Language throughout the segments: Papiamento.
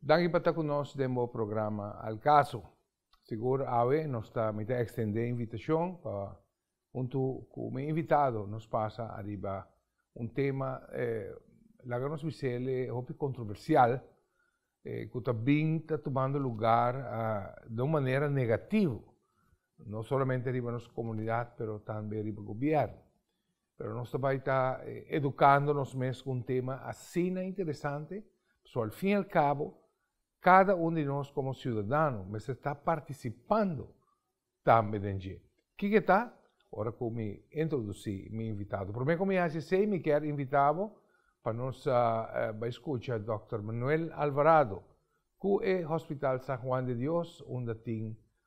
Danki pa ta ku nos den bo programa Al Caso. Sigur awe nos ta mita ekstendé invitashon pa huntu ku mi invitado nos pasa ariba un tema, laga nos bisél e hopi kontroversial, ku ta bin ta tumando lugar den un manera negativo, no solamente riba nos komunidat pero tambe riba gobièrnu. Pero nos ta bai ta edukando nos mes ku un tema asina interesante, pasobra al fin i al kabo kada un di nos komo siudadano mester ta partisipando tambe den dje. Kiko e ta? Ora ku mi introdusí mi invitado. Promé ku mi hasi esei mi kier invitá bo pa nos bai skucha Dòkter Manuel Alvarado ku e Hospital San Juan de Dios unda tin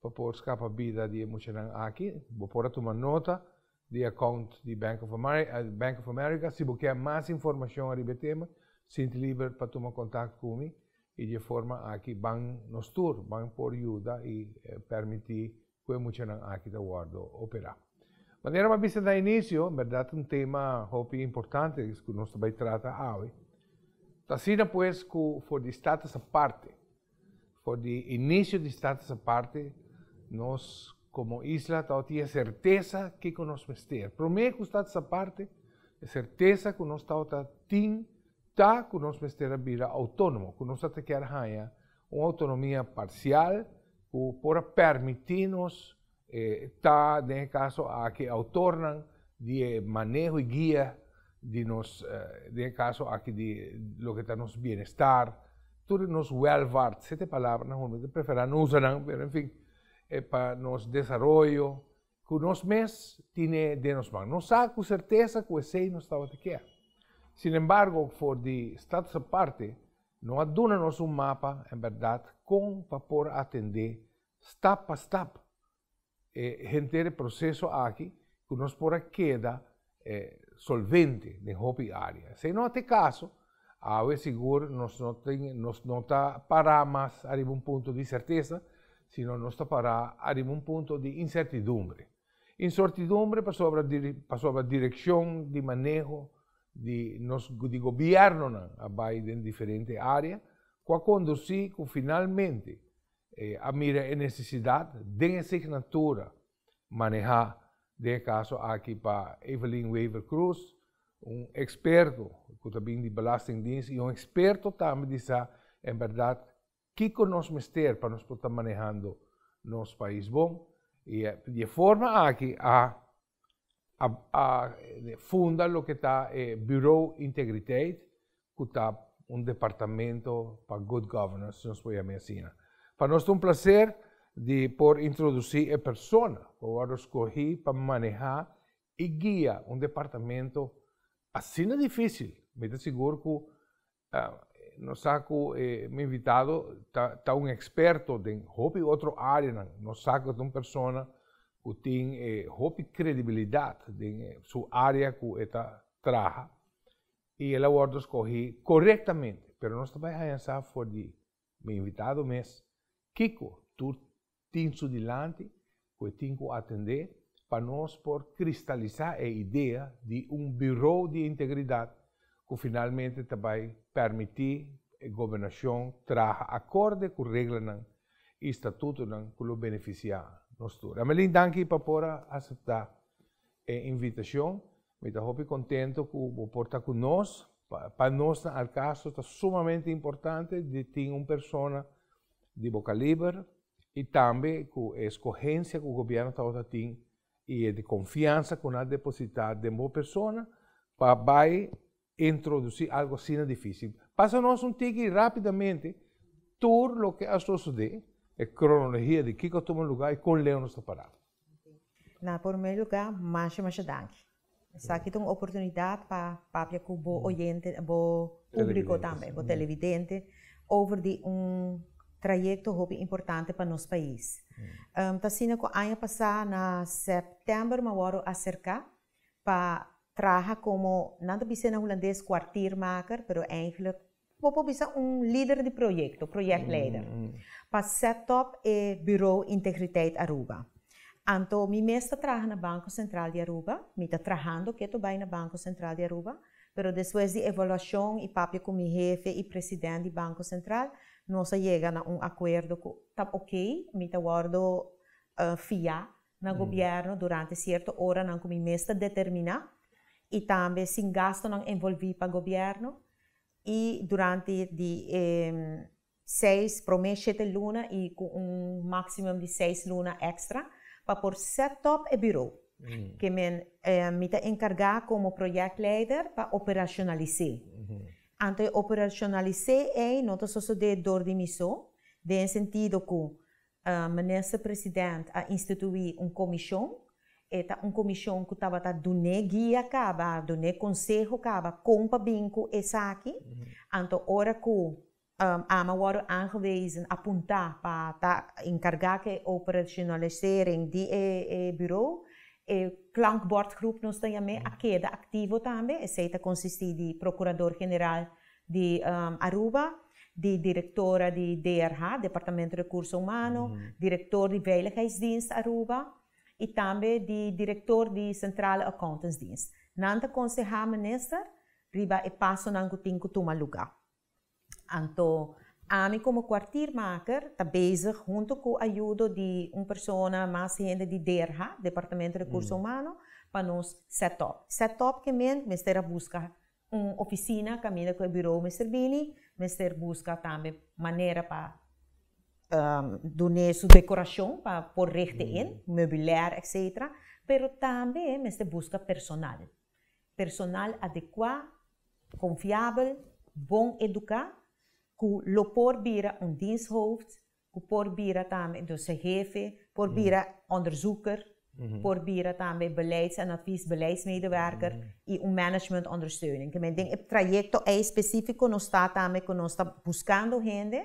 pa por scapa bida di e muchanan aki. Bo por a tuma nota di e account di Bank of Bank of America. Si bo kier mas informacion ariba e tema, sinti liber pa tuma contact cu mi y dje forma aki ban nos tur, ban por yuda y permiti cu e muchanan aki ta wordo opera. Manera m'a bisa na inicio, en berdad un tema hopi importante es cu nos ta bay trata awe. Ta asina pues cu for di Status aparte. For di inicio di status aparte, nos como isla ta otier certeza kico nos mester. Prome cu status aparte, e certeza cu nos ta ota tin ta cu nos mester a bira autonomo, cu nos a ta kier haya un autonomia parcial cu por a permiti nos, E ta den e kaso aki e outornan di e maneho i guia di nos, den e kaso aki di loke ta nos bienestar, tur di nos welvaart, sete palabranan hopi mi ta preferá no usa nan, pero en fin, e pa nos desaroyo ku nos mes tine den nos man. Nos sa ku sertesa ku esei nos tabata kia. Sin embargo, for di status aparte no a duna nos un mapa en bèrdat kon pa por atendé Stap pa stap e henter e proseso aki ku nos por a keda solvente den hopi área. Esei no ta e kaso, awe sigur nos no tin nos no ta pará mas ariba un punto di sertesa, sino nos ta pará ariba un punto di insertidumbre. Insortidumbre pasobra pasobra direkshon di maneho di nos di gobièrnonan a bai den diferente área ku a kondusí ku finalmente E a mira e necesidad den e signatura maneha den e caso aki pa Evelyn Wever Croes, un experto cu ta bin di Belastingdienst y un experto tambe di sa en berdad kico nos mester pa nos por ta manehando nos pais bon. Y di e forma aki a a a funda loke ta e Bureau Integriteit ku ta un departamento pa Good Governance, si nos por yama e asina. Pa nos ta un plaser di por introdusí e persona ku a wòrdu skohí pa manehá i guia un departamento asina difísil. Mi ta sigur ku Nos sa cu e mi invitado ta, ta un experto den hopi otro areanan. Nos sa cu ta un persona cu tin e hopi credibilidad den e su area cu e ta traha y el a wordo scogi corectamente. Pero nos ta bay haña sa for di mi invitado mes kico tur tin su dilanti cu e tin cu atende pa nos por cristalisa e idea di un Bureau di Integridad cu finalmente ta bay permiti e Gobernacion traha acorde cu reglanan y statutonan cu lo beneficia nos tur. Amelin danki pa por a acepta e invitacion Mi ta hopi contento cu bo por ta cu nos. Pa nos na Alcastro ta sumamente importante di tin un persona di bo caliber y tambe cu e escogencia cu Gobierno tabata tin y e confiansa cu nan a deposita den bo persona pa bay Introdusí algu asina difísil. Pasa nos un tiki rápidamente tur loke a sosodé, e kronologia di kiko a tuma lugá i kon Leo nos ta pará. Na pormé lugá, masha masha danki. Esaki ta un oportunidat pa papia ku bo oyente, bo públiko tambe, bo televidente, over di un trayekto hopi importante pa nos pais. Ta asina ku aña pasá na sèptèmber m'awor a aserká pa traha komo, nan ta bisa na hulandes kwartiermaker, pero eindelijk bo por bisa un lider di proyekto, proyektleider, pa set op e Bureau Integriteit Aruba. Anto mi mes ta traha na Banko Sentral di Aruba, mi ta trahando ke to bai na Banko Sentral di Aruba, pero despues di evaluashon i papia ku mi hefe i president di Banko Sentral, nos a yega na un akuerdo ku ta oke, mi ta wòrdu fiá na gobierno durante cierto oranan cu mi mes ta determina y tambe sin gastonan envolvi pa gobierno y durante di e seis prome shete luna y cu un maximum di seis luna extra pa por set up e bureau ke men mi ta encarga como project leider pa operacionalise anto e operacionalise ey no ta sosode door di mi so den sentido cu Minister President a instituí un komishon. E ta un komishon ku tabata dun'é guia kaba, dun'é konseho kaba kon pa bin ku esaki. Anto ora ku Ama wòrdu aangewezen, apuntá pa ta enkargá ku e operationalisering di e buro, e klankbòrtgroep nos ta yam'é a keda aktivo tambe. Esei ta konsistí di Prokurador General di Aruba, di direktora di DRH, Departamento Rekurso Humano, direktor di Veiligheidsdienst Aruba i tambe di direktor di Sentrale Accountantsdienst. Nan ta konsehá minister riba e pasonan ku tin ku tuma lugá. Anto ami komo kuartiermaker ta bezig huntu ku ayudo di un persona, mas hende di DRH, Departamento Rekurso Humano, pa nos set up. Set up ke meen? Mester a buska Un ofisina kaminda ku e burou mester bini, mester buska tambe manera pa dun'é su dekorashon pa por reg di ein, meubilèr etsetera, pero tambe mester buska personal, personal adekuá, konfiabel, bon eduká ku lo por bira un diensthoofd ku por bira tambe dose hefe, por bira onderzoeker, por bira tambe beleids en advies, beleidsmedewerker i un management ondersteuning. Te men den e trayekto ei spesifiko nos ta tambe ku nos ta buskando hende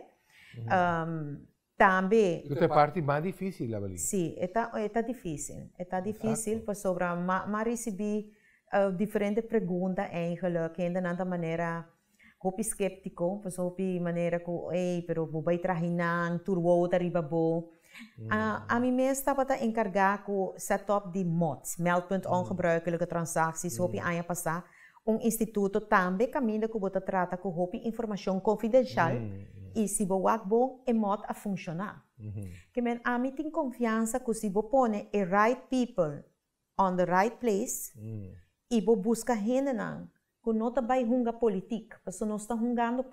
tambe. Ku ta e parti mas difisil la Bali? Si, e ta e ta difisil, e ta difisil pasobra m'a m'a risibí diferente pregunta eigelik, hendenan ta manera Hopi skeptiko, pasobra hopi manera ku ei pero bo bai traha i nan, tur wowo ta riba bo. Ami mes tabata enkargá ku sètòp di mot, meldpunt ongebruikelijke transacties, hopi aña pasá. Un instituto tambe kaminda ku bo ta trata ku hopi informashon konfidenshal i si bo wak bon e mot a funshoná. Ke men ami tin konfiansa ku si bo pone e right pipel on the right place y bo busca hendenan cu no ta bay hunga politic, pasobra nos ta hungando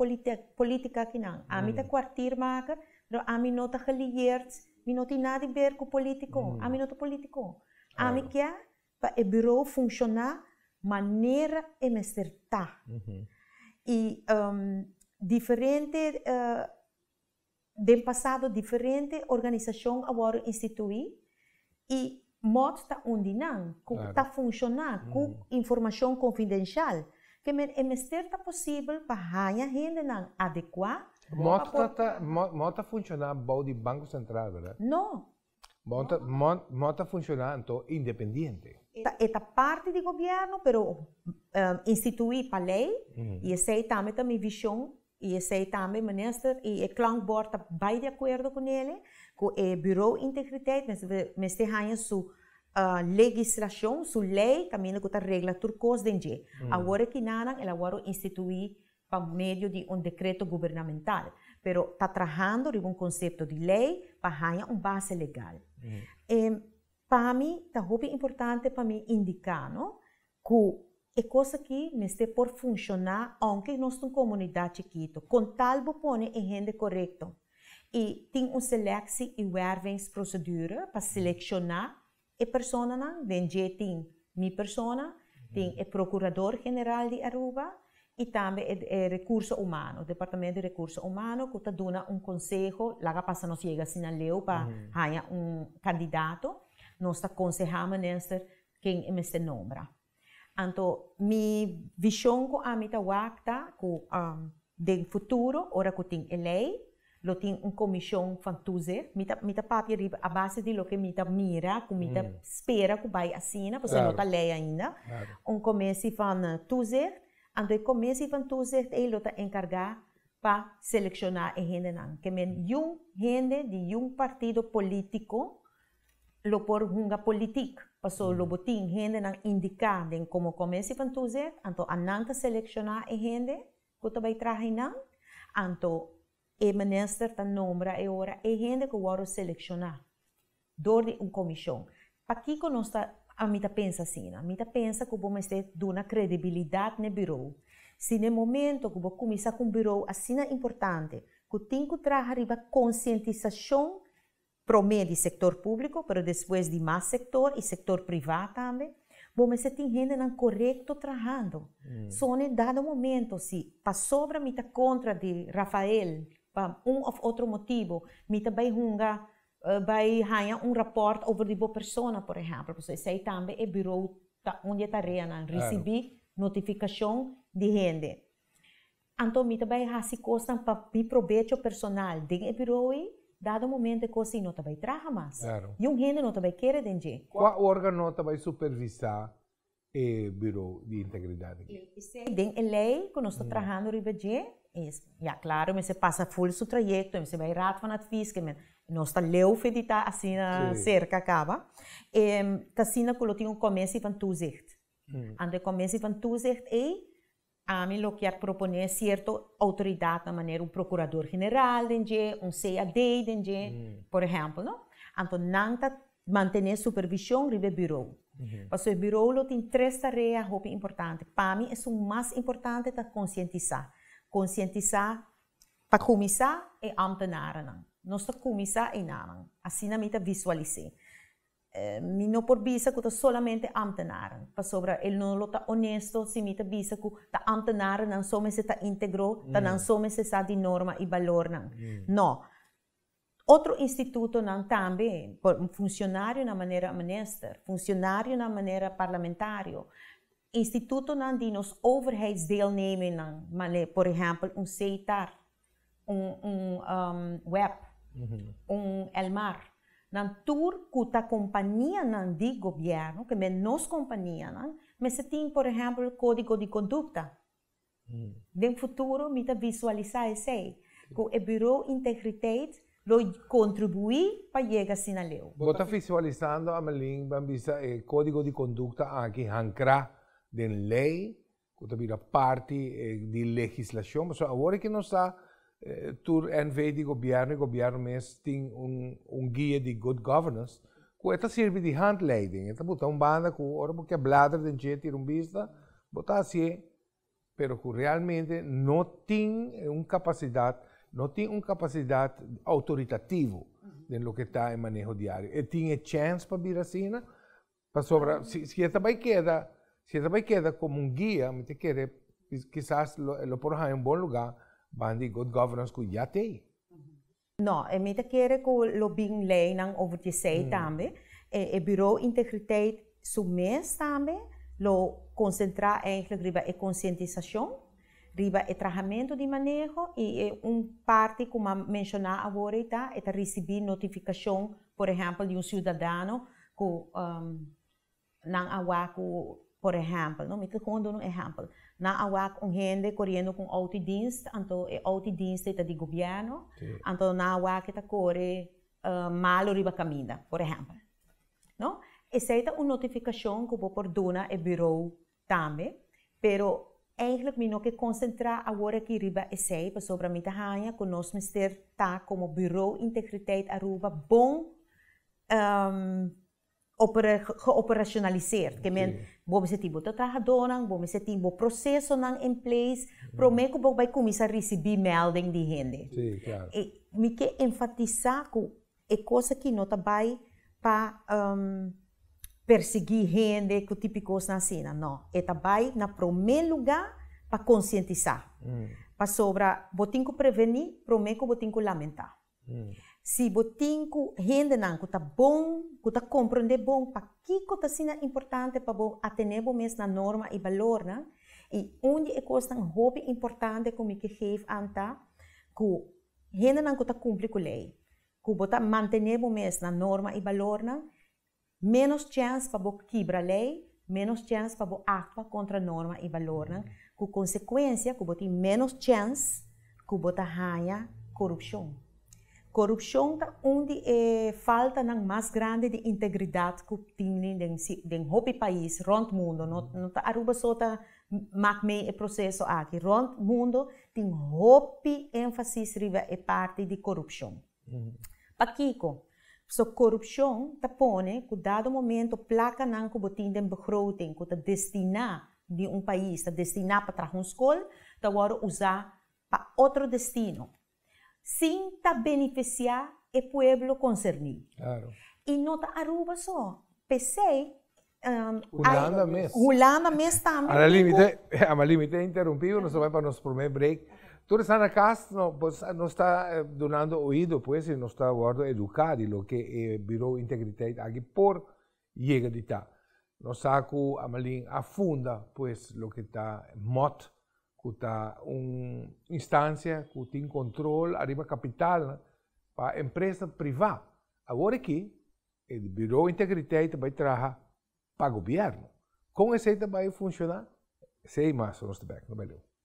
politica aki nan. Ami ta cuartier maker, pero ami no ta gelierd, mi no tin nada di ber cu politico, ami no ta politico. Ami kia pa e bureau funciona manera e mester ta y diferente. Den pasado diferente organisashon a wòrdu instituí i mòt ta un di nan ku ta funshoná ku informashon konfidenshial. Ke men e mester ta posibel pa haña hendenan adekuá pa por. Mòt ta funshoná bou di Banko Sentral, bèrdat? No. Mò ta funciona anto independiente. E ta parti di gobierno pero institui pa ley y esey tambe ta mi vision y esey tambe minister y e clonk board ta bay di acuerdo cu nele cu e bureau integriteit mester haya su legislacion, su ley caminda cu ta regla tur cos den dje. Awor e kinanan el a wòrdu institui pa medio di un dekreto gubernamental, pero ta trahando riba un konsepto di lei pa haña un base legal. E pa mi ta hopi importante pa mi indiká no ku e kos aki mester por funshoná ounke nos ta un komunidat chikitu, kon tal bo pone e hende korekto i tin un seleksi i wèrvingsprosedure pa selekshona E personanan den dje tin mi persona, tin e procurador general di Aruba y tambe e recurso humano, departamento di recurso humano cu ta duna un conseho, laga pasa nos yega asina leu pa haya un candidato, nos ta conseha minister ken e mester nombra. Anto mi vishon ku ami ta wak ta ku den futuro ora ku tin e lei lo tin un komishon van toezicht, mi ta mi ta papia riba a base di loke mi ta mira ku mi ta spera ku bai asina pasobra no ta lei ainda, un komesi van toezicht, anto e komesi van toezicht ei lo ta enkargá pa selekshona e hendenan ke men yun hende di yun partido polítiko Lo por hunga politic, paso lo bo tin hendenan indica den como comesi pan toezet, anto a nan ta selecciona e hende cu ta bay traha y nan, anto e minister ta nombra e ora e hende cu wordo selecciona door di un comision. Pakico nos ta, a mi ta pensa asina, mi ta pensa cu bo mester duna credibilidad n'e bureau. Si n'e momento cu bo cuminsa cu un bureau asina importante, cu tin cu traha riba concientisacion Promé di sektor públiko pero despues di mas sektor i sektor privá tambe. Bo mester tin hendenan korekto trahando. Sone en dado momento si pasobra mi ta kontra di Rafael pa un òf otro motibu mi ta bai hunga bai haña un rapòrt over di bo persona por ehèmpel pasobra esei tambe e birou ta un di e tareanan risibí notifikashon di hende. Anto mi ta bai hasi kosnan pa mi probecho personal den e birou ei, dado momento e kos ei no ta bai traha mas i un hende no ta bai kere den dje. Kua organo ta bai supervisa e birou di integridat aki? Esei den e lei ku nos ta trahando riba dje, ya klaro mester pasa ful su trayekto, mester bai raad van advies, ke nos ta leu feditá asina serka kaba, ta asina ku lo tin un kommisie van toezicht. Anto e kommisie van toezicht ei Ami lo kier proponé cierto autoridad nan manera un procurador general den dje, un CAD den dje, por ejemplo no, anto nan ta mantené supervision riba e bureau. Pasobra e bureau lo tin tres tarea hopi importante, pa mi esun mas importante ta concientisá, concientisá pa cuminsá e ambtenaren nan, nos ta cuminsá einanan, asina mi ta visualis'é. Mi no por bisa ku ta solamente ámtenaren, pasobra el no lo ta onesto si mi ta bisa ku ta ámtenarennan so mester ta íntegro, ta nan so mester sa di norma i balornan. No. Otro institutonan tambe, por funshonarionan manera minister, funshonarionan manera parlamentario, institutonan di nos overheidsdeelnemingnnan, por ehèmpel un CETAR, un un web un elmar nan tur ku ta kompanianan di gobièrnu ke men nos kompanianan mester tin por ehèmpel kódigo di kondukta den futuro mi ta visualisá esei ku e buro integritet lo kontribuí pa yega asina leu. Bo ta visualisando Amelin, bo a bisa e kódigo di kondukta aki hankrá den lei cu ta bira parti di legislacion, pasobra awor aki nos ta tur NV di gobierno y gobierno mes tin un guia di good governance cu e ta sirbi di handleiding, e ta bota un banda cu ora bo kier blader den dje tira un bista, bo ta haci'e, pero cu realmente no tin un capacidad, no tin un capacidad autoritativo den loke ta e maneho diario. E tin e chance pa bira asina, Pasobra si, si e ta bai keda, si e ta bai keda komo un guia, mi ta kere kisas lo, e lo por haña un bon lugá banda di good governance ku ya t'ei. No, e mi ta kere ku lo bin leinan over di esei tambe. E, e Buro Integriteit su mes tambe lo konsentrá eigentlik riba e konsientisashon, riba e trahamentu di maneho i e un parti ku m'a menshoná awor ei ta e ta risibí notifikashon, por ehèmpel di un siudadano ku nan a wak ku por ehèmpel no mi ta komo duna un ehèmpel nan a wak un hende koriendo ku un outo di dinst anto e outo di dinst dei ta di gobièrnu anto nan a wak ke ta kore malu riba kaminda por ehèmpel no esei ta un notifikashon ku bo por duna e birou Tambe, pero eindelijk mi no ke konsentrá aworakí riba esei pasobra mi ta haña ku nos mester ta komo Bureau Integriteit Aruba bon geoperashonaliseerd, ke men bo mester tin bo trahadónan, bo mester tin bo prosesonan in place promé ku bo bai kuminsá risibí melding di hende. Mi ke enfatisá ku. E cos aki no ta bay pa persegui hende cu tipi cosnan asina no e ta bay na prome luga pa concientisa pasobra bo tin cu preveni prome cu bo tin cu lamenta si bo tin cu hendenan cu ta bon cu ta comprende bon pakico ta asina importante pa bo atene bo mes na norma y balornan y un di e cosnan hopi importante cu mi ke geef an ta cu Hendenan ku ta kumpli ku lei, ku bo ta mantené bo mes na norma i balornan, ménos chèns pa bo kibra lei, ménos chèns pa bo aktua kontra norma i balornan, ku konsekuensia ku bo tin ménos chèns ku bo ta haña korupshon. Korupshon ta un di e faltanan mas grandi di integridat ku tin den hopi pais rònt mundu, no ta Aruba so ta Mak mei e proseso aki. Rond mundo tin hopi énfasis riba e parti di korupshon. Pakiko? P'esei korupshon ta pone ku dado momento plakanan ku bo tin den begroting ku ta destiná di un pais, ta destiná pa traha un skol, ta wòrdu usá pa otro destino. Sin ta benefisiá e pueblo konserní. I no ta Aruba so, p'esei, Hulanda mes. Hulanda mes tambe tin ku. Alalímite, amalímite e interumpíu, nos ta bai pa nos promé break. Tur esnan na kas, nos ta dunando oído pues i nos ta wòrdu eduká di loke e Bureau Integriteit aki por Yega di ta. Nos sa cu Amalin a funda pues loke ta MOT, cu ta un instancia cu tin control ariba capitalnan pa empresa priva. Awor aki e di Bureau Integriteit ta bay traha pa Gobierno. Con esey ta bay funciona? Esey mas nos ta bay aki, no bay leu.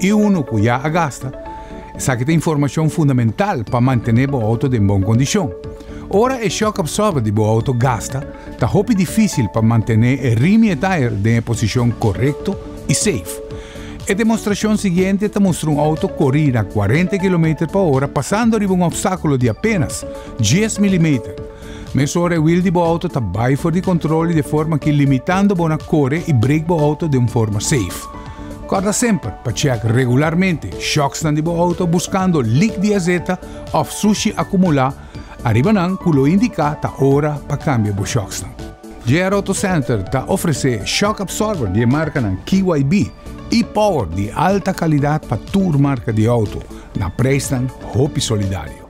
I unu ku ya a gasta, esaki ta informashon fundamental pa mantené bo outo den bon kondishon. Ora e shock absorber di bo outo gasta, ta hopi difísil pa mantené e rim i e tire den e posishon korekto i safe. E demostrashon siguiente ta mustra un outo korí na kuarenta kilometer pa ora pasando riba un opstákulo di apénas dies milimeter. Mesora e wiel di bo outo ta bai for di kontrol i de forma ki limitando bo na kore i break bo outo den un forma safe. Kòrda semper pa tjek regularmente shòksnan di bo outo buskando lik di azeta òf sushi akumulá ariba nan ku lo indiká ta ora pa kambia bo shòksnan. JR Auto Center ta ofresé shock absorber di e markanan KYB i power di alta kalidat pa tur marka di outo na preisnan hopi solidario.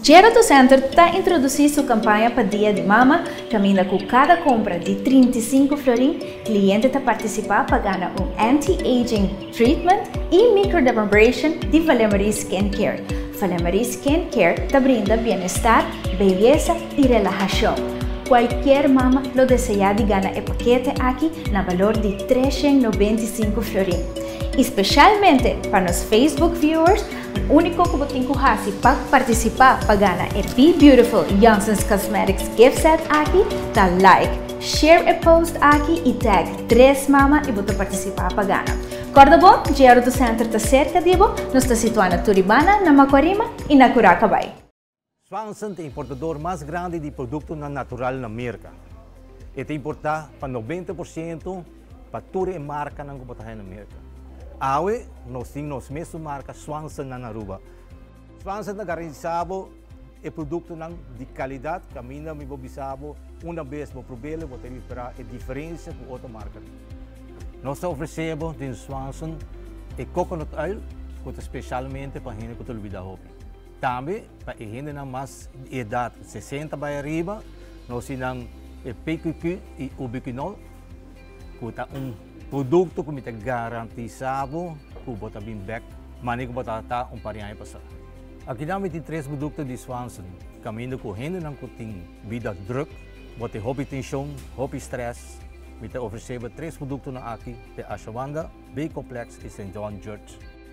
Gerontocenter ta introduci su campaña pa Dia di Mama, caminda cu cada compra di trinta i sinku florin, cliente ta participa pa gana un anti-aging treatment y microdermabrasion di Valemary Skin Care. Valemary Skin Care ta brinda bienestar, beyesa y relahacion. Cualkier mama lo desea di gana e paquete aki na balor di trescientos noventa i sinku florin. Y specialmente pa nos Facebook viewers, Úniko ku bo tin ku hasi pa partisipá pa gana e Be Beautiful Yongsons Cosmetics Gift Set aki ta like, share e post aki i tag Tres Mama i bo ta partisipá pa gana. Kòrda bo, Jr. Auto Center ta serka di bo, nos ta situá na Turibana, na Makuarima i na Kuraca bai. Swanson ta importador mas grandi di produktonan natural na Merka. E ta importá pa nobenta por siento pa tur e markanan ku por ta haña na Merka. Awe nos tin nos mesun marka Swanson na na Aruba. Swanson ta garantisá bo e produktonan di kalidat. Kaminda mi bo bisa bo, unda bes bo prob'el bo ta repará e diferensia ku otro markanan. Nos ta ofresé bo den Swanson e coconut oil ku ta spesialmente pa hende ku ta olbidá hopi. Tambe pa e hendenan mas di edat sesenta bai ariba, nan osi nan e PQQ i Ubiquinol, ku ta un produkto ku mi ta garantisá bo ku bo ta bin bèk manera ku bo ta ta un par di aña pasá. Akinan mi tin tres produkto di Swanson, kaminda ku hendenan ku tin bida drùk, bo tin hopi tenshon, hopi strès, mi ta ofresé bo tres produktonan aki, te Ashawanda, B-Complex i St. John Jurt.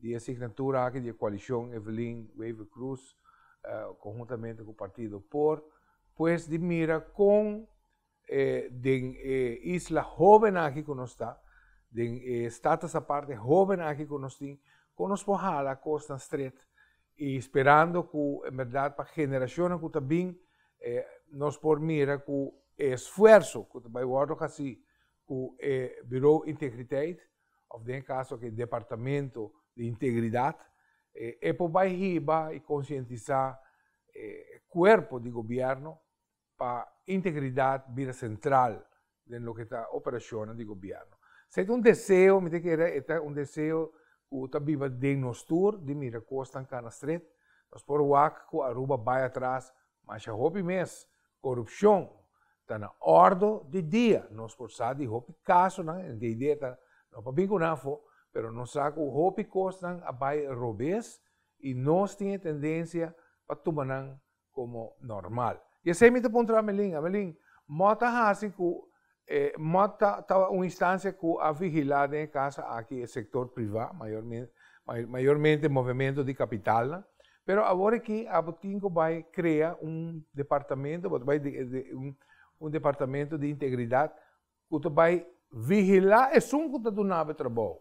Di e signatura aki di e koalishon Evelyn Wever Croes konhuntamente ku partido por pues di mira kon den e isla hóbennan aki ku nos ta, den e status apart e hóbennan aki ku nos tin, kon nos por hala kosnan stret i sperando ku en bèrdat pa generashonnan ku ta bin nos por mira ku e esfuerso ku ta bai wòrdu hasí ku e Birou Integriteit, òf den e kaso aki Departamento di Integridat, e por bai hiba i konsientisá e kuerpo di gobièrnu pa integridat bira sentral den loke ta operashonnan di gobièrnu. Esei ta un deseo, mi ta kere e ta un deseo ku ta biba den nos tur di mira kosnan kana stret. Nos por wak ku Aruba bai atras masha hopi mes Korupshon ta na òrdo di dia. Nos por sa di hopi kasonan en DD ta no pa bin ku nan afó, pero nos sa ku hopi kosnan a bai robes i nos tin e tendensia pa tuma nan komo normal. I esei mi ta puntra Amelin, Amelin, mò ta hasi ku E mot ta ta un instancia cu a vigila den e casa aki e sector priva, mayormen mayormente movemento di capitalnan, pero awor aki a bo tin cu bay crea un departamento, bo ta bay un departamento di integridad cu ta bay vigila esun cu ta dunabo e trabou,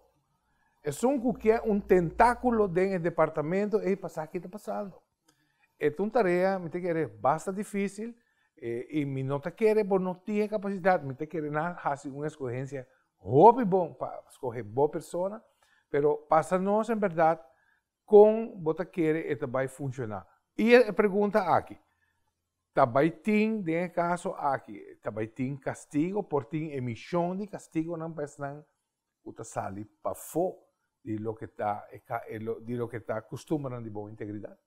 esun cu ke un tentaculo den e departamento ey pa sa ki ta pasando. E ta un tarea, mi ta kere, basta difícil, i mi no ta kere bo no tin e capacidad, mi ta kere nan haci un escogencia hopi bon pa scoge bo persona, pero pasa nos en berdad con bo ta kere e ta bay funciona. I e pregunta aki, ta bay tin den e caso aki, ta bay tin castigo, por tin emisión di castigonan pa esnan ku ta sali pafó di loke ta e di loke ta kustumbernan di bon integridat?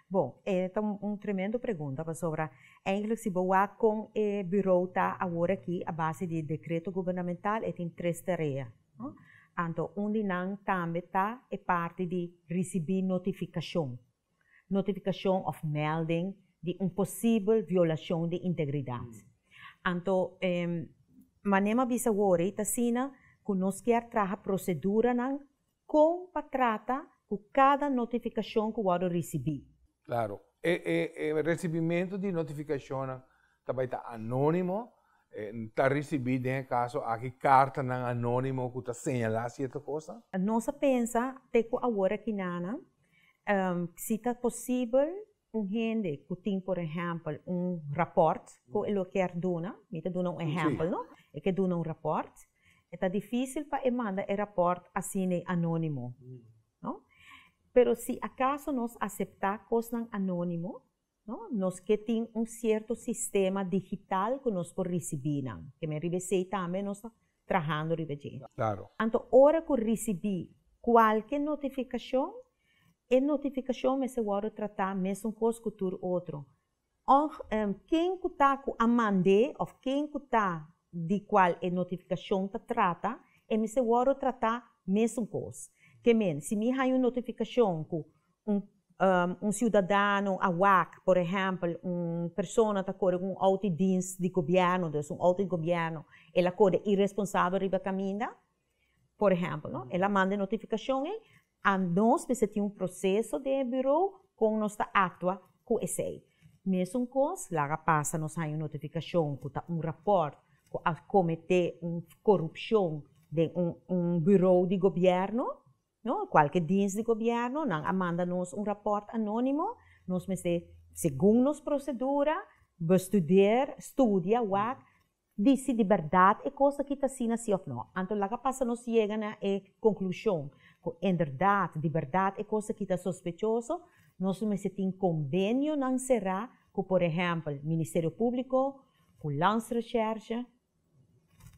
Bon, e ta un tremendo pregunta pasobra eindelijk si bo wak kon e burou ta awor aki a base di dekreto gubernamental e tin tres tarea, no? Anto un di nan tambe ta e parti di risibí notifikashon. notifikashon òf mèlding di un posibel violashon di integridat. Anto e manera bisa wòrdi ta asina ku nos kier traha proseduranan kon pa trata ku kada notifikashon ku wòrdu risibí. Klaro, e e resibimentu di notifikashonnan ta bai ta anónimo, e ta risibí den e kaso aki kartanan anónimo ku ta señalá sierto kosnan. Nos a pensa te ku awor aki na nan Si ta posibel un hende ku tin por ehèmpel un rapòrt ku e lo kier duna, mi ta duna un ehèmpel no, e ke duna un rapòrt, e ta difísil pa e manda e rapòrt asina anónimo, no. Pero si akaso nos aseptá kosnan anónimo. No, nos ke tin un sierto sistema digital ku nos por risibí nan. Ke men riba esei tambe nos ta trahando riba dje. Klaro. Anto ora ku risibí kualke notifikashon, e notifikashon mester wòrdu tratá mesunkos ku tur otro, ong ken ku ta ku a mand'é òf ken ku ta di kual e notifikashon ta trata, e mester wòrdu tratá mesunkos. Ke men, si mi haña un notifikashon ku un siudadano a wak por ehèmpel un persona ta kore ku un outo i dins di gobièrnu dus un outo di gobièrnu el a kore i responsabel riba kaminda por ehèmpel no el a manda e notifikashon ei a nos mester tin un proseso den e biro kon nos ta aktua ku esei mesun kos laga pasa nos haña un notifikashon ku ta un rapòrt ku a kometé un korupshon den un biro di gobièrnu. No, kualke diens di gobièrnu nan a manda nos un rapòrt anónimo, nos mester segun nos prosedura bestudeer, studia, wak, di si di bèrdat e kos aki ta asina si òf no. Anto laga pasa nos yega na e konklushon ku inderdat, di bèrdat e kos aki ta sospechoso, nos lo mester tin kombenionan será ku por ehèmpel Ministerio Públiko, ku Landsrecherche,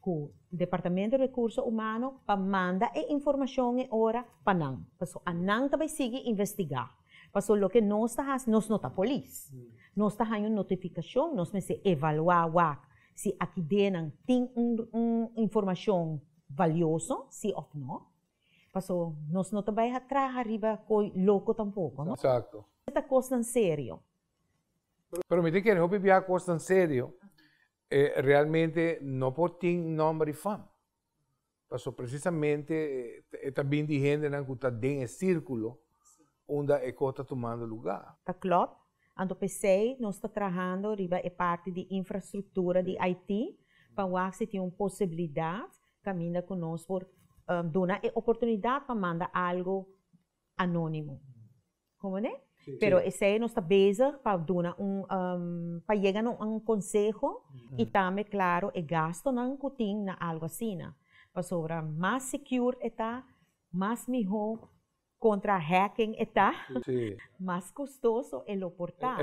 ku Departamento Rekurso Humano pa manda e informashon e ora pa nan. Paso a nan ta bai sigui investigá. Paso loke nos ta hasi, nos no ta polis. Nos ta haña un notifikashon, nos mester evaluá wak si a kidenan tin un un informashon valioso si òf nò. Paso nos no ta bai a traha riba koi loko tampoko, no? Eksakto. Ta kosnan serio. Pero mi ta kere hopi bia kosnan serio. E realmente no por tin nomber y fama. Paso precisamente e ta bin di hendenan cu ta den e circulo unda e cos ta tumando lugar. Ta clop, anto p'esey nos ta trahando riba e parti di infrastructura di IT pa wak si tin un posibilidad caminda cu nos por duna e oportunidad pa manda algo anónimo. Comprende? Pero esei nos ta bezig pa duna un, pa yega na un konseho i tambe klaro e gastunan ku tin na algu asina. Pasobra mas sekiur e ta, mas mihó kontra hacking e ta, mas kostoso e lo por ta.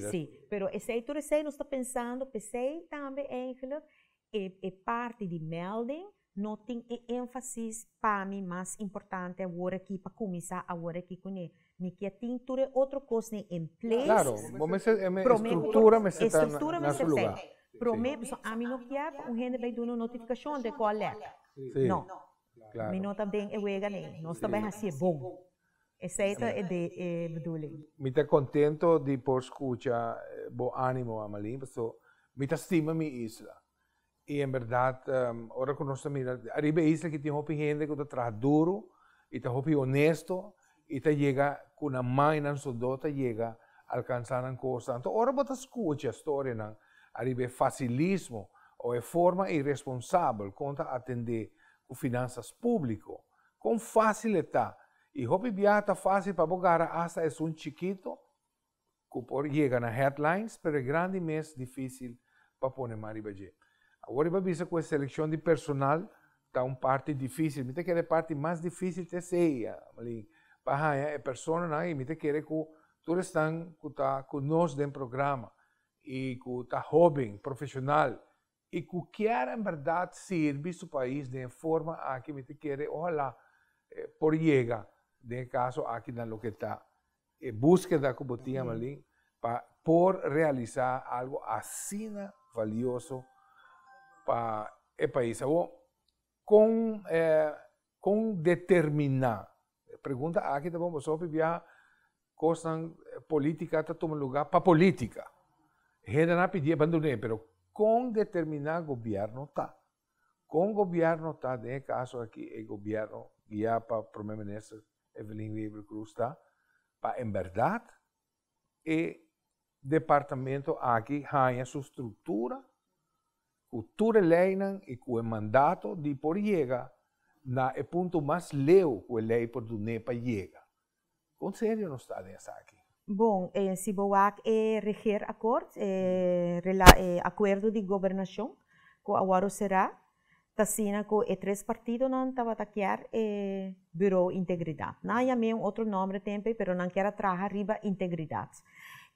Sí, pero esei tur esei nos ta pensando p'esei tambe eigelik E e parti di melding no tin e énfasis pa mi mas importante awor aki pa kuminsá awor aki kuné. Mi ke tin tur e otro kosnan en place. Klaro, bo mester promé ku e struktura mester ta na su lugá. Promé, pasobra ami no kier pa un hende bai dun'e un notifikashon den kòl lèk. No. Mi no ta den e wega nei. Nos ta bai hasié bon. Esei ta e bedoeling. Mi ta contento di por scucha bo animo Amalie, pasobra mi ta stima mi isla. Y en verdad ora cu nos ta mira ariba e isla aki tin hopi hende cu ta traha duro y ta hopi honesto y ta yega cu nan man y nan soldó ta yega alcansa nan cosnan. Enton ora bo ta scucha storianan ariba e facilismo o e forma irresponsabel con ta atende cu finanzas publico Kon fásil e ta! I hopi biaha ta fásil pa bo gara asta esun chikito ku por yega na headlines, pero e grandi mes difísil pa pone man riba dje. Awor i bo a bisa ku e selekshon di personal ta un parti difísil. Mi ta kere e parti mas difísil ta esei, Amelin, pa haña e personanan i mi ta kere ku tur esnan ku ta ku nos den programa i ku ta hóben, profeshonal, Y cu kier en berdad sirbi su pais den e forma aki mi ta kere ojalá por yega den e caso aki na loke ta e buskeda cu bo tin Amalin pa por realisa algo asina valioso pa e pais awor. Kon e kon determiná? E pregunta aki ta bon pasobra p'abia kosnan polítika ta tuma lugá pa polítika. E hendenan a pidi e bandon'é pero kon determiná gobièrnu ta? Kon gobièrnu ta? Den e kaso aki e gobièrnu guiá pa Prome Minister Evelyn Wever-Croes ta pa en bèrdat E departamento aki haña su struktura ku tur e leinan i ku e mandato di por yega na e punto mas leu ku e lei por dun'é pa yega. Kon serio nos ta den esaki? Bon, si bo wak e regeerakkoord, e akuerdo di gobernashon ku a wòrdu será, T'asina cu e tres partidonan tabata kier e Bureau Integridad. Nan a yam'é un otro nomber tempe, pero nan kier a traha riba integridad.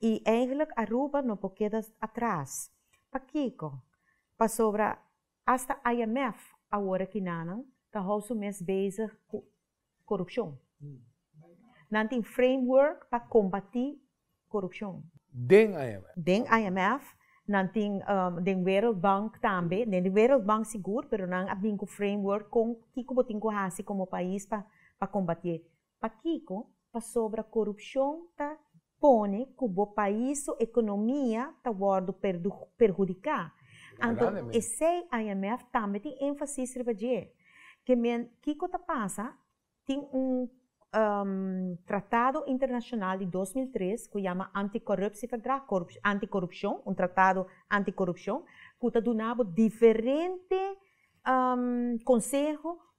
I eigenlijk Aruba no por keda atras. Pakico? Pasobra hasta IMF awor a kinanan ta hou su mes bezig cu korupshon. Nan tin framework pa kombatí korupshon. Den IMF. Den IMF, nan tin den Wereldbank tambe. Den di Wereldbank sigur, pero nan a bin ku framework kon kiko bo tin ku hasi komo pais pa kombatié. Pakiko? Pasobra korupshon ta pone ku bo pais su ekonomia ta wòrdu perhudiká, anto esei IMF tambe tin énfasis riba dje. Ke men kiko ta pasa, tin un tratado internashonal di dos mil tres ku yama Antikorupsieverdrag, antikorupshon, un tratado antikorupshon, ku ta duna bo diferente konseho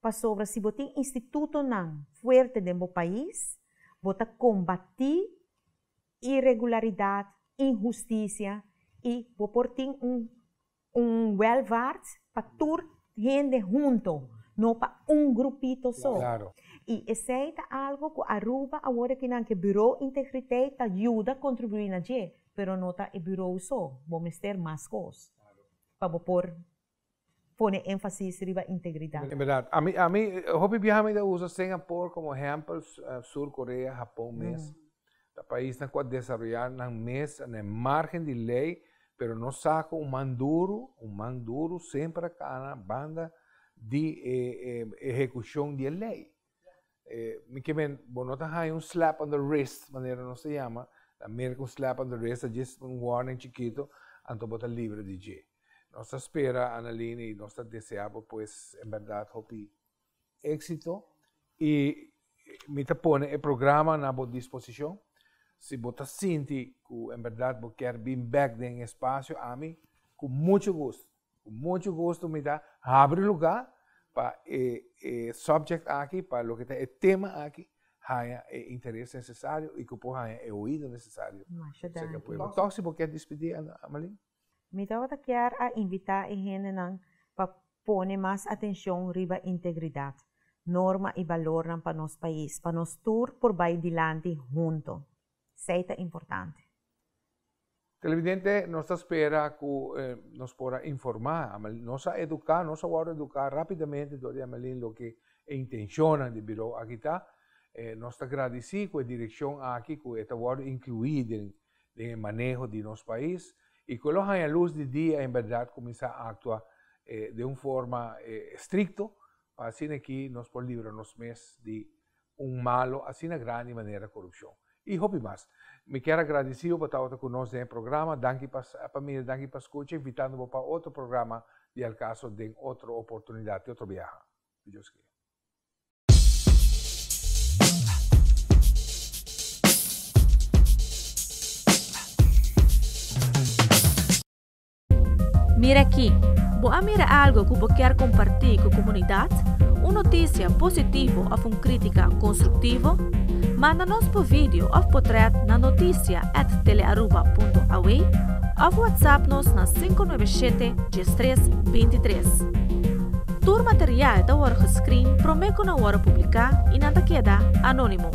Pasobra si bo tin institutonan fuerte den bo pais, bo ta kombatí iregularidat, inhustisia i bo por tin un un wèlvaart pa tur hende hunto, no pa un grupito so. I esei ta algu ku Aruba awor e tin nan ke Buró Integriteit ta yuda kontribuí na dje, pero no ta e buró so, bo mester mas kos pa bo por. pone énfasis riba integridat. Inberdat. Ami, ami, hopi biaha mi ta usa Singapore komo ehèmpel, Sur Korea, Hapon mes. Ta paisnan ku a desaroyá nan mes na e márgen di lei, pero nos sa ku un man duru, un man duru semper a kana banda di e ehekushon di e lei. Eh, mi que men, bo no ta haya un slap on the wrist, manera no se llama, la merk un slap on the wrist, just un warning chiquito, anto bo ta libre di je. Nos ta spera, Analine, y nos ta desea bo pues, en verdad, hopi éxito. Y mi ta pone e programa na bo disposicion. Si bo ta sinti cu en verdad bo quer bin back den espacio, ami, cu mucho gusto, Ku muchu gusto mi ta habri lugá pa e e subject aki, pa loke ta e tema aki, haña e interes nesesario i ku por haña e oido nesesario. Masha danki. Tòg si bo kier dispidí, Amalin? Mi tabata kier a invitá e hendenan pa pone mas atenshon riba integridat, norma i balornan pa nos pais, pa nos tur por bai dilanti huntu. Esei ta importante. Televidente, nos ta spera cu nos por a informa Amelin. Nos a educa, nos a worde educa rapidamente door di Amelin loke e intencionnan di Birou aki ta. Nos ta gradici cu e direccion aki cu e ta worde inclui den den e maneho di nos pais y cu e lo hanja luz di dia en berdad cuminsa actua den un forma stricto pa asina aki nos por libra nos mes di un malo asina grandi manera korupshon i hopi mas. Mi kier a gradisi bo pa tabata ku nos den e programa. Danki pa pamia, danki pa skucha, invitando bo pa otro programa di El Caso den otro oportunidat i otro biaha. Ku Dios kee. Mira aki! Bo a mira algo ku bo kier kompartí ku komunidat? Un notisia positivo òf un krítika konstruktivo? Manda nos bo video òf potrèt na notisia at telearuba.aw òf whatsapp nos na sinku nuebe shete dies tres binti tres. Tur material ta wòrdu geskrin promé ku nan wòrdu publiká i nan ta keda anónimo.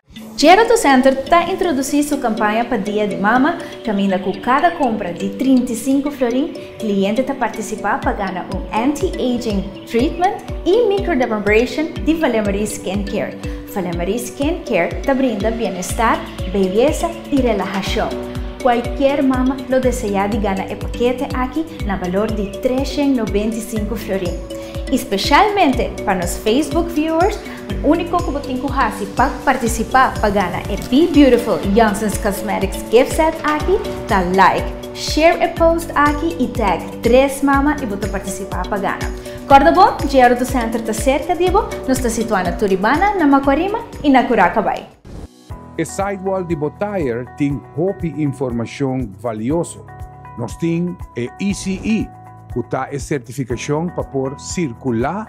Gerontocenter ta introduci su campaña pa Dia di Mama, caminda cu cada compra di trinta i sinku florin, cliente ta participa pa gana un anti-aging treatment y microdermabrasion di Valemarie Skin Care. Valemarie Skin Care ta brinda bienestar, beyesa y relahacion. Cualkier mama lo desea di gana e pakete aki na balor di tres shen nobenta i sinku florin. Y specialmente pa nos Facebook viewers, E úniko ku bo tin ku hasi pa partisipá pa gana e Be Beautiful Johnsons Cosmetics Gift Set aki ta like, share e post aki i tag Tres Mama i bo ta partisipá pa gana. Kòrda bo, Jr. Auto Center ta serka di bo, nos ta situá na Turibana, na Makuarima i na Kuraca Bai. E sidewall di bo tayer tin hopi informashon valioso. Nos tin e ECE, ku ta e sertifikashon pa por sirkulá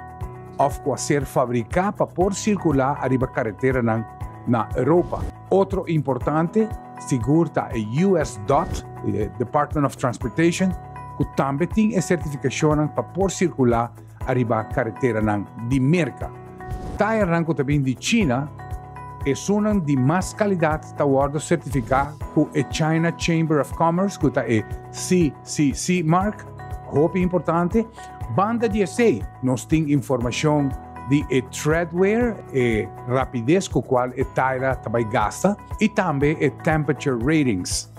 òf ku a ser fabriká pa por sirkulá ariba kareteranan na Europa. Otro importante sigur ta e US. Dot, Department of Transportation, ku tambe tin e sertifikashonnan pa por sirkulá Ariba kareteranan di Merka. Tayernan ku ta bin di China, esunnan di mas kalidat ta wòrdu sertifiká ku e China Chamber of Commerce, ku ta e CCC mark, hopi importante. Banda di esei, nos tin informashon di e treadwear, e rapides ku kual e tayera ta bai gasta, i tambe e temperature ratings.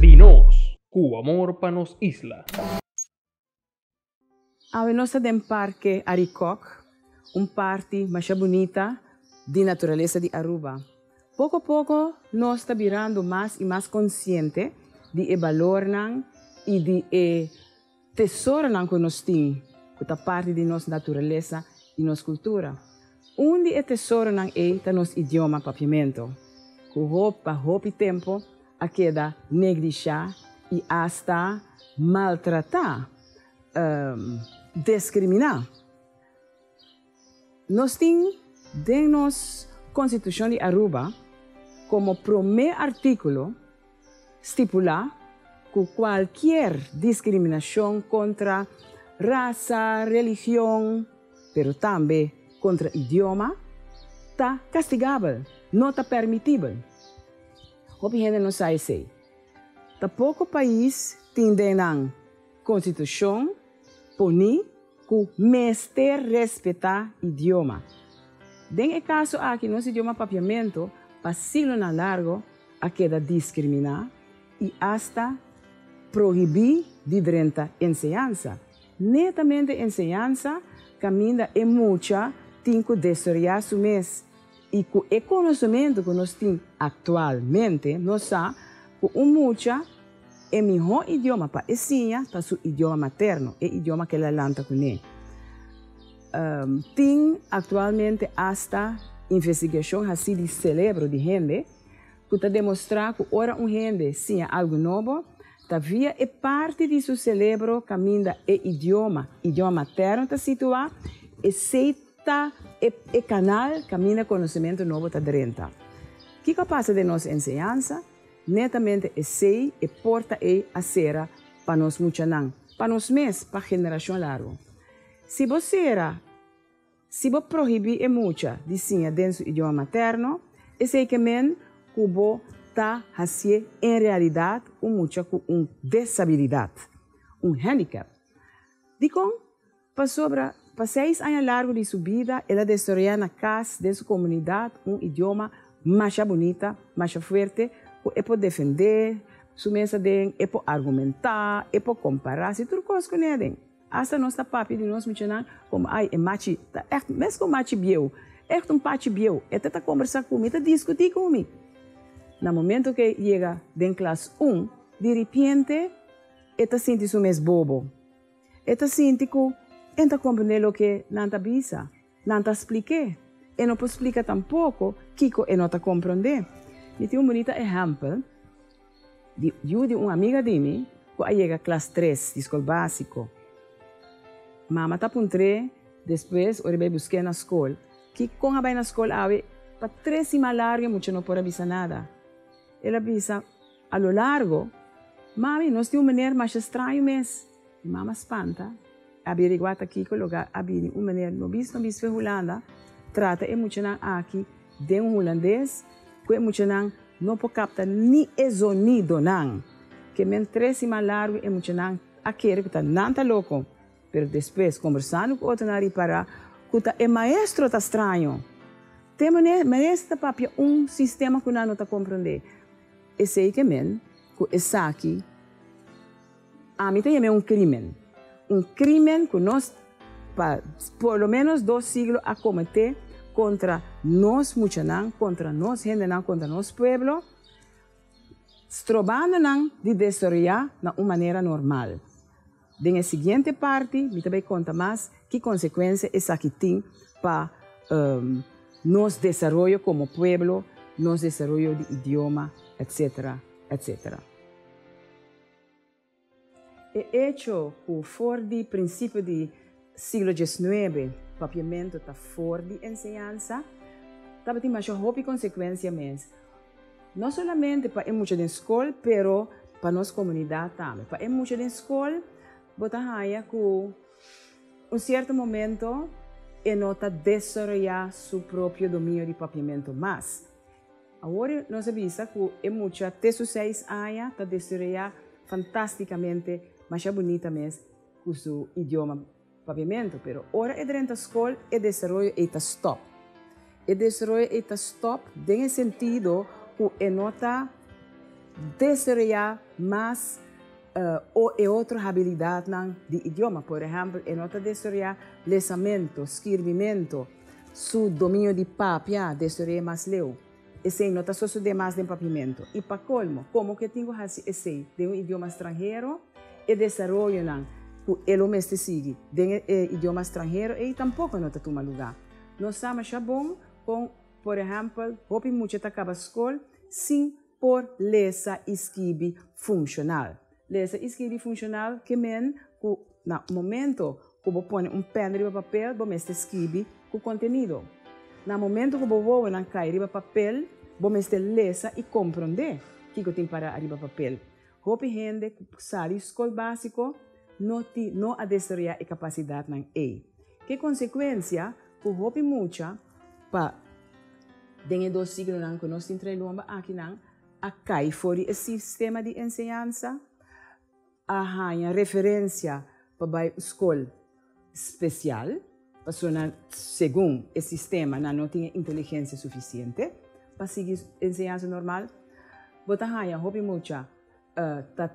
Di nos ku amor pa nos isla. Awe nos ta den Parke Arikok, un parti masha bunita di naturalesa di Aruba. Poko poko nos ta birando mas i mas konsiente di e balornan i di e. Tesoronan ku nos tin, ku ta parti di nos naturalesa i nos kultura. Un di e tesoronan ei ta nos idioma Papiamento, ku pa hopi tempu a keda neglishá i asta maltratá, deskriminá. Nos tin den nos Konstitushon di Aruba komo promé artíkulo stipulá ku kualkier diskriminashon kontra rasa, religion, pero tambe kontra idioma ta kastigabel, no ta pèrmitibel. Hopi hende no sa esei. Ta poko pais tin den nan Konstitushon poní. Ku mester respetá idioma. Den e kaso aki nos idioma papiamentu pa siglonan largu a keda diskriminá i asta prohibí di drenta enseñansa. Netamente enseñansa kaminda e mucha tin ku desoroyá su mes i ku e konosementu ku nos tin aktualmente nos sa ku un mucha E mihó idioma pa e siña ta su idioma materno, e idioma k'e la lanta ku n'e. Tin aktualmente asta investigashon hasí di selebro di hende ku ta demostrá ku ora un hende siña algu nobo, ta via e parti di su selebro kaminda e idioma, idioma materno, ta situá, esei ta e kanal kaminda konosementu nobo ta drenta. Kiko a pasa den nos enseñansa? Netamente esei e porta ei a sera pa nos muchanan, pa nos mes, pa generashon largu. Si bo sera, si bo prohibí e mucha di siña den su idioma materno, esei ke men ku bo ta hasié en realidat un mucha ku un desabilidat, un handicap. Dikon? Pasobra, pa seis aña largu di su bida, el a desaroyá na kas den su komunidat un idioma masha bunita, masha fuerte, ku e por defendé su mes aden, e por argumentá, e por kompará si tur kos ku neden. Asta nos ta papia di nos michinan komo, Ai, e machi ta ègt meskos un machi bieu, ègt un pachi bieu. E ta ta kombersá ku mi, e ta diskutí ku mi. Na momentu ku e yega den klas un, di ripiente e ta sinti su mes bobo. E ta sinti ku e ta komprendé loke nan ta bisa. Nan ta spliké. E no por splika tampoko kiko e no ta komprendé. Mi tin un bunita ehèmpel di yu di un amiga di mi ku a yega klas tres di skol básiko. Mama ta puntr'é despues ora bai busk'é na skol, ki kon a bai na skol awe? Pa tres siman largu e mucha no por a bisa nada. El a bisa. A lo largo, Mami, nos tin un meneer masha straño mes! E mama spanta, e averigua ta kico logar a bini un meneer no bis no bis fen Hulanda trata e muchanan aki den un Hulandes cu e muchanan no por capta ni e zonidonan. Ke men tres siman largo e muchanan a kere cu ta nan ta loco, pero despues conversando cu otronan ripara cu ta e maestro ta straño. Te maestro ta papia un sistema cu nan no ta compronde. Esei ke men ku esaki ami ta yam'é un krímen. Un krímen ku nos pa por lo ménos dos siglo a kometé kontra nos muchanan, kontra nos hendenan, kontra nos pueblo, strobando nan di desoroyá na un manera normal. Den e siguiente parti mi ta bai konta mas ki konsekuensia esaki tin pa nos desaroyo komo pueblo, nos desaroyo di idioma, etc. Etc. E echo ku for di prinsipio di. Siglo dieznuebe, Papiamento ta for di enseñansa. Tabatin masha hopi konsekuensia mes, no solamente pa e mucha den skol, pero pa nos komunidat tambe. Pa e mucha den skol, bo ta haña ku un sierto momento e no ta desaroyá su propio dominio di Papiamento mas. Awor nos a bisa ku e mucha te su seis aña ta desaroyá fantástikamente, masha bunita mes, cu su idioma papiamento, pero ora e drenta scol e desaroyo ey ta stop. E desaroyo ey ta stop den e sentido cu e no ta desaroya mas o e otro habilidadnan di idioma, por ehempel e no ta desaroya lesamento, skirbimento, su dominio di papia desaroya mas leu. Esei no ta sosodé mas den Papiamento. I pa colmo, como cu e tin cu haci esei den un idioma stranhero? E desaroyonan cu e lo mester sigui den e idioma stranhero ei tampoco no ta tuma luga. Nos sa masha bon con, por ehempel, hopi mucha ta caba scol sin por lesa i skibi funcional. Lesa i skirbi funshonal ke men ku na momento ku bo pone un pèn riba papel bo mester skirbi ku kontenido. Na momento ku bo wowonan kai riba papel bo mester lesa i komprondé kiko tin pará ariba papel. Hopi hende ku sa di skol básiko no tin no a desaroyá e kapasidatnan ei. Ke konsekuensia ku hopi mucha pa den e dos siglonan ku nos tin trae lomba akinan? a kai for di e sistema di enseñansa, a haña referensia pa bai un skol spesial pasobra nan, segun e sistema, nan no tin e inteligensia sufisiente pa sigui enseñansa normal. Bo ta haña hopi mucha ta,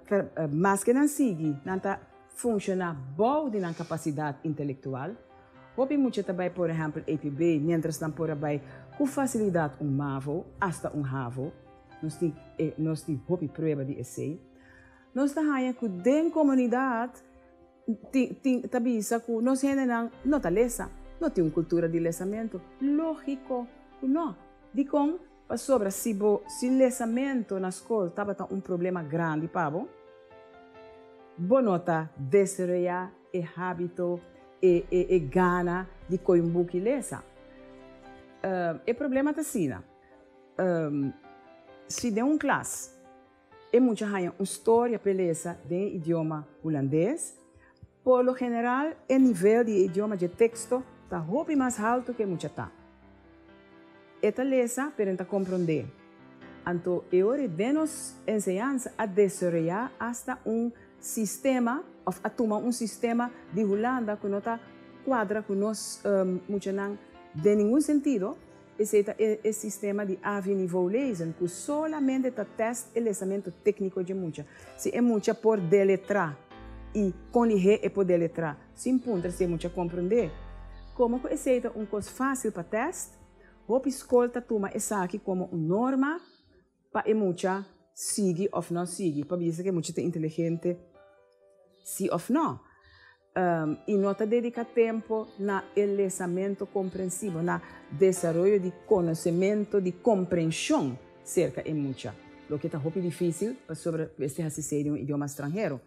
maske nan sigui, nan ta. funciona bou di nan capacidad intelectual. Hopi mucha ta bay por ehempel EPB mientras nan por a bay cu facilidad un mavo hasta un havo. Nos tin e nos tin hopi prueba di esey. Nos ta haya cu den comunidad tin tin ta bisa cu nos hendenan no ta lesa, no tin un cultura di lesamento. Logico cu no. Dicon? Pasobra si bo si lesamentu na skol tabata un problema grandi pa bo, bo no ta deseroyá e hábito, e e e gana di koi un buki lesa. E problema ta asina, si den un klas. E mucha haña un storia p'e lesa den e idioma Hulandes. Por lo general e nivel di e idioma dje teksto ta hopi mas haltu ku e mucha ta. E ta lesa pero e no ta komprondé. Anto e ora den nos enseñansa a desaroyá asta un sistema òf a tuma un sistema di Hulanda ku no ta kuadra ku nos muchanan den ningun sentido. Esei ta e e sistema di avi-nivou lezen ku solamente ta tèst e lesamento tékniko dje mucha, si e mucha por deletrá i kon di he e por deletrá, sin puntra si e mucha komprondé. Komo ku esei ta un kos fásil pa tèst, hopi skol ta tuma esaki komo un norma Pa e mucha sigui of no sigui, pa bisa ke mucha ta inteligente si of no. I no ta dedica tempo na e lesamento comprensivo, na desaroyo di conocemento di comprension cerca e mucha, loke ta hopi dificil pasobra mester haci esey den un idioma stranhero.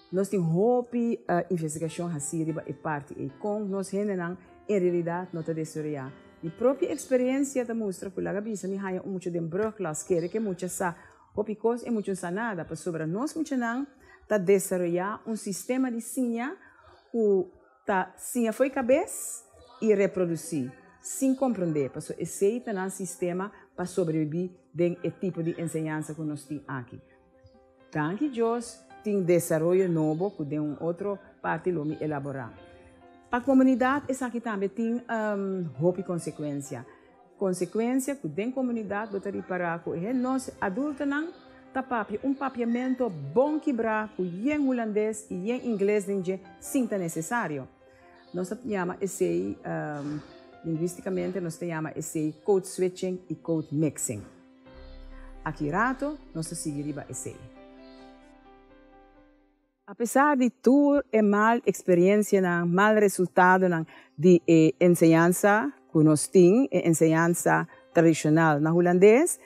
Nos tin hopi investigashon hasí riba e parti ei, kon nos hendenan en realidat no ta desoreá. Mi propio eksperiensia ta mustra ku laga bisa mi haña un mucha den brugklas kere ku e mucha sa hopi kos, e mucha no sa nada, pasobra nos muchanan ta desaroyá un sistema di siña ku ta siña fo'i kabes i reprodusí sin komprondé, paso esei ta nan sistema pa sobrebibí den e tipo di enseñansa ku nos tin aki. Danki Dios tin desaroyo nobo cu den un otro parti lo mi elabora. Pa comunidad esaki tambe tin hopi consecuencia. Consecuencia cu den comunidad bo ta ripara cu e nos adultonan ta papia un papiamento bon kibra cu yen Hulandes y yen Ingles den dje sin ta necesario. Nos ta yama esey, linguisticamente nos ta yama esey code switching y code mixing. Aki rato nos ta sigui riba esei. A pesar di tur e mal experiencianan, mal resultadonan di e enseñansa cu nos tin, e enseñansa tradicional na Hulandes,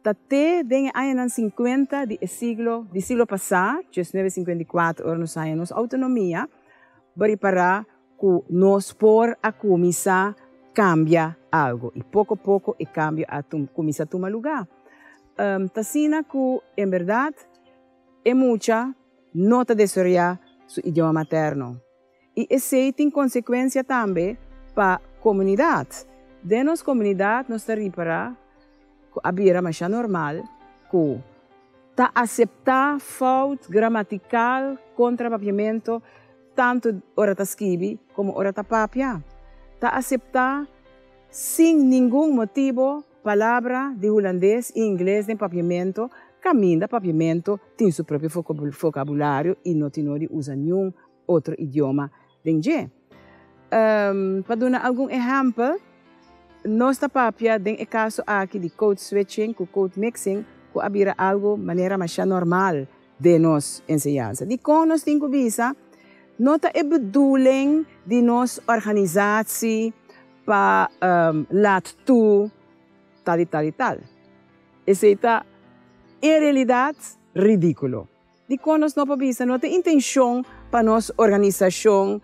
ta te den e añanan cincuenta di e siglo di siglo pasa, diecinueve cincuenta y cuatro ora nos haña nos autonomia, bo ripara Ku nos por a kuminsá kambia algu. I poko poko e kambio a kuminsá tuma lugá. Ta asina ku en bèrdat e mucha no ta desaroyá su idioma materno. I esei tin konsekuensia tambe pa komunidat. Den nos komunidat nos ta ripará ku a bira masha normal ku ta aseptá fout gramatikal kontra papiamentu. tantu ora ta skibi komo ora ta papia, ta aseptá sin ningun motibu palabra di hulandes i ingles den papiamentu kaminda papiamentu tin su propio fokabulario i no tin no di usa niun otro idioma den dje. Pa duna algun ehèmpel, nos ta papia den e kaso aki di code switching ku code mixing ku a bira algu manera mashá normal den nos enseñansa. Dikon nos tin ku bisa no ta e bedoeling di nos organisatie pa laat toe tal i tal i tal? Esei ta en realidad ridíkulo. Dikon nos no por bisa no ta e intenshon pa nos organisashon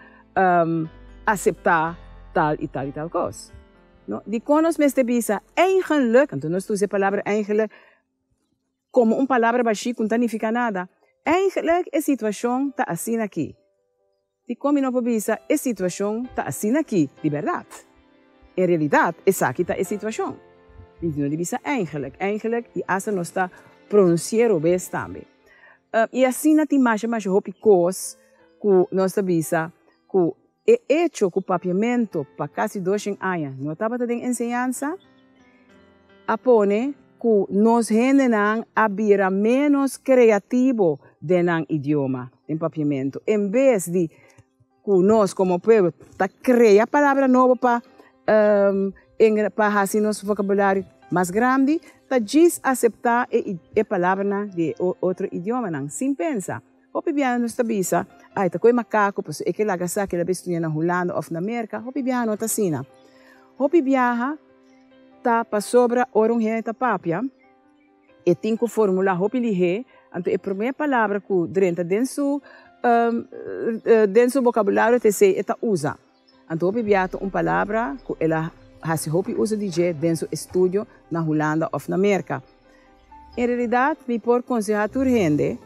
aseptá tal i tal i tal kos? Dikon nos mester bisa eigenlik, anto nos ta usa e palabra eigenlik? Komo un palabra bashí ku no ta nifiká nada. Eigentlik e situashon ta asina akí. Dikon mi no por bisa e situashon ta asina akí di bèrdat? En realidat, esaki ta e situashon. Mi no di bisa eigentlik, eigentlik i asta nos ta pronunsi'é robes tambe. I asina tin masha masha hopi kos ku nos ta bisa ku E echo ku Papiamento pa kasi doshen aña no tabata den enseñansa a pone ku nos hendenan a bira ménos kreativo den nan idioma den Papiamento. En bes di ku nos komo pueblo ta krea palabra nobo pa pa hasi nos vokabulario mas grandi ta djis aseptá e palabranan di e otro idiomanan sin pensa. Hopi biaha nos ta bisa, Ai, ta cu e macacu, pasobra e ke laga sa ke el a bay studia na Hulanda of na Merca. Hopi biaha no ta asina. Hopi biaha ta pasobra ora un hende ta papia, e tin cu formula hopi lihé, anto e promé palabra cu drenta den su, den su bocabulario ta esey e ta usa. Anto hopi bia ta un palabra ku el a hasi hopi uso di dje den su estudio na Hulanda òf na Merka. En realidat mi por konsehá tur hende,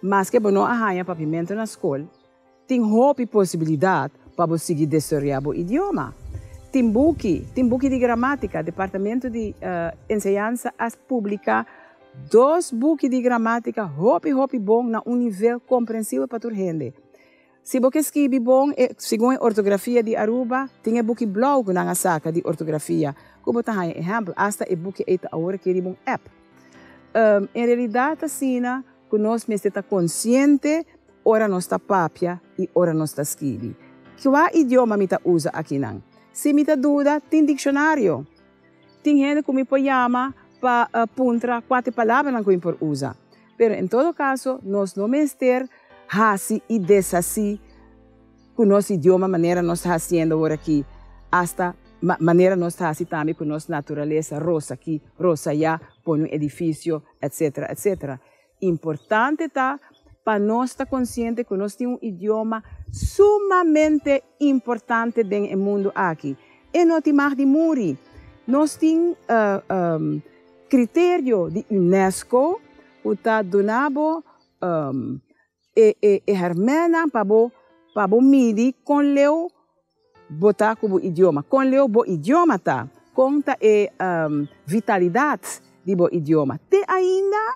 maske bo no a haña papiamento na skol, tin hopi posibilidat pa bo sigui desoroyá bo idioma. Tin buki, tin buki di gramátika, Departamento di Enseñansa a publiká dos buki di gramátika hopi hopi bon na un nivel komprensibel pa tur hende. Si bo ke skibi bon e segun e ortografia di Aruba, tin e buki blou ku nan a saka di ortografia ku bo ta haña ehèmpel. Asta e buki ei ta awor aki riba un app. En realidat asina ku nos mester ta konsiente ora nos ta papia i ora nos ta skibi. Kua idioma mi ta usa akinan? Si mi ta duda, tin dikshonario. Tin hende ku mi por yama pa puntra kua ta e palabranan ku mi por usa. Pero en todo caso nos no mester haci y deshaci cu nos idioma manera nos ta haciendo ahora aki, hasta manera nos ta haci tambe cu nos naturaleza, rosa aki, rosa allá, pone un edificio, etc. Etc. Importante ta pa nos ta consciente cu nos tin un idioma sumamente importante den e mundo aki. E no tin mag di muri. Nos tin. Criterio di Unesco cu ta duna bo e hermennan pa bo pa bo midi con leu bo ta cu bo idioma, con leu bo idioma ta, con ta e vitalidad di bo idioma. Te ainda.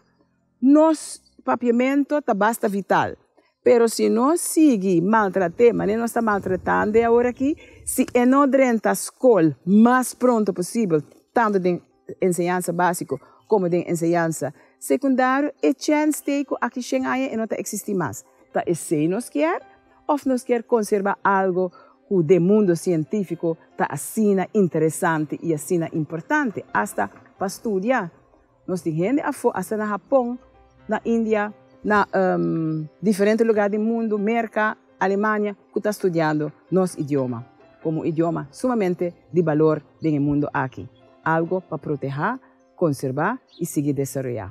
Nos papiamento ta basta vital, pero si nos sigui maltrat'é manera nos ta maltratand'é aworakí, si e no drenta skol mas pronto posibel, tantu den enseñansa básiko komo den enseñansa sekundario, e chèns t'ei ku aki shen aña e no ta eksistí mas. Ta esei nos kier òf nos kier konserbá algu ku den mundu sientífiko ta asina interesante i asina importante asta pa studia? Nos tin hende afó asta na Hapon, na India, na diferente lugar di mundu, Merka, Alemania, ku ta studiando nos idioma komo un idioma sumamente di balor den e mundu aki, algo pa protehá, konserbá i sigui desaroyá.